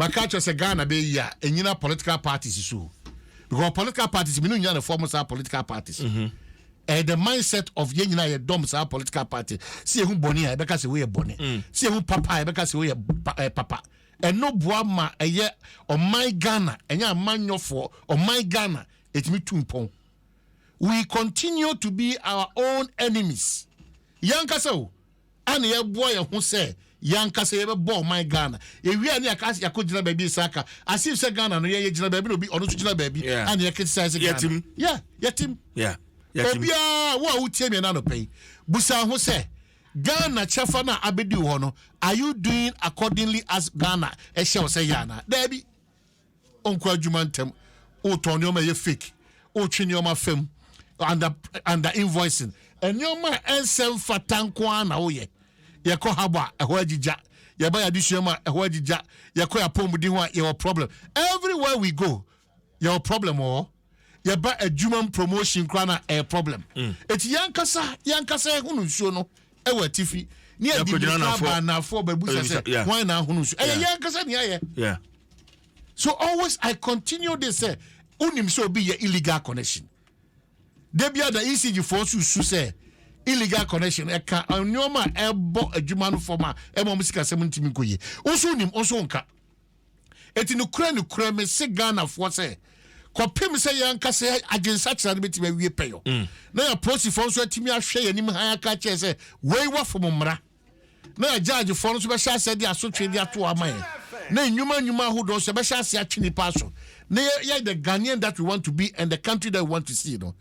Ma ka kyerɛ sɛ Ghana bɛyɛ yie a ɛnyina political parties so o because political parties mene onyina ne fɔ mo saa political parties mm -hmm. ɛyɛ the mindset of yɛn nyina yɛ dɔm saa political party sɛ yɛhu bɔne a yɛbɛka sɛ woyɛ bɔne mm. sɛ yɛhu papa a yɛbɛka sɛ woyɛ pa, eh, papa ɛno boa ma ɛyɛ ɔman Ghana ɛnyɛ amanyɔfoɔ ɔman Ghana ɛtumi tu mpɔn we continue to be our own enemies yɛnkasa o a na yɛboa yɛn ho sɛ yɛn ankasa yɛbɛbɔ ɔman Ghana ewie a ne yɛaka sɛ yɛakɔ gyina baabi nsa aka as if sɛ Ghana no yɛn yɛgyina baabi na obi ɔno nso gyina baabi a na yɛkritisize sɛ Ghana yɛ yɛtim obiara wo a wotie mi na anɔpɛ yi busa ho sɛ Ghana kyɛfa no a abɛdi wo hɔ no are you doing accordingly as Ghana ɛhyɛ wo sɛ yɛ anaa daabi ɔnkɔ adwuma ntɛm, wotɔn nneɛma a ɛyɛ fake, wotwe nneɛma fam, under under invoicing, nneɛma a ɛnsɛ mfata nko ara na woyɛ. Yɛkɔ harbor a ɛhɔ agyigya, yɛba yɛ adesua mu a ɛhɔ agyigya, yɛkɔ yɛ apɔmuden hɔ a yɛwɔ problem. Everywhere we go, yɛwɔ problem wɔ hɔ. yɛba adwumam promotion koraa na ɛyɛ problem eti yankasa yankasa ɛhono nsuo no ɛwɔ atifi ne ɛdi mirika ba anaafoɔ bɛbusa sɛ wɔn na ahono nsuo ɛyɛ yankasa ne ayɛ so always I continue this sɛ wonim sɛ obi yɛ illegal connection da bi ada ecg foɔ nso su sɛ illegal connection ɛka nneɛma a ɛbɔ adwuma no fam a ɛma wɔn sikasɛm ntumi nkɔ yie nso wonim nso nka. Enti nokorɛ nokorɛ mese Ghanafoɔ sɛ, kɔpem sɛ yɛn ankasa adwensakyera no bɛtumi awie pɛyɔ mm. na yɛapolisifoɔ nso atumi ahwɛ yɛn anim han aka kyerɛ sɛ wei wafom mmara na yɛagyaagyefoɔ no nso bɛhyɛ aseɛ de asotwe de ato ama yɛn na nnwuma nnwuma ahodoɔ nso yɛbɛhyɛ aseɛ atwe nnipa aso na yɛyɛ the Ghanaian that we want to be and the country that we want to see no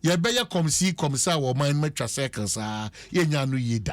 yɛbɛyɛ kɔmsi kɔmsa wɔ ɔman no matwa circle saa yɛnya no yie da